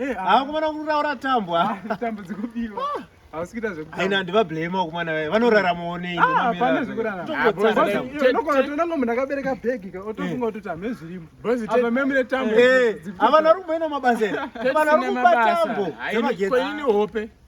Eh, ah. akomana kuraura tambwa ah, tambo dzikubiwa ah. hausikita zvekuaina ndivablame wakomana vaye vanoraramawo neipane zvekuraraunongo munhu akabereka bhegi ka otofunga kuti tamhe zvirimo amamemune tambo avana ri kumboina mabasa ere avana ri kuba tambo dzemagetsi hope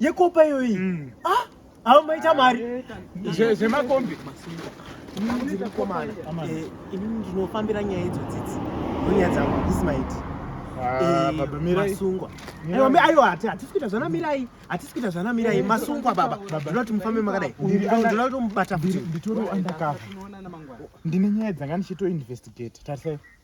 yekopa iyoyi mm. ah, avo maita mari zvemakombi eh, ini ndinofambira nyaya idzo dzidzi ndonyaya dzangu ismaiti ah, eh, masungwa aiwa hatisi kuita zvana mirai hatisi kuita zvana mirai eh, masungwa baba ndinoda kuti mufambe makadai ndinoda kutomubata futi nditori andakava ndine nyaya dzanga ndichitoinvestigate tarisai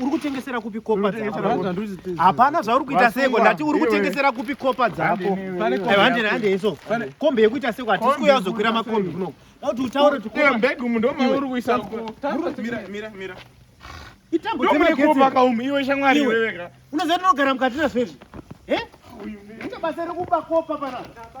uri kutengesera kupi kopa hapana zvauri kuita seko ndati uri kutengesera kupi kopa dzako handei handei so kombe yekuita seko hatisi kuuya kuzokwira makombe kuno kuti utaure tukombeg umu ndomauri kuisa itambo dzemagetseka umu iwe shamwari iweweka unoziva ndinogara mukati nazvo izvi eh? unobasa rekuba kopa panapa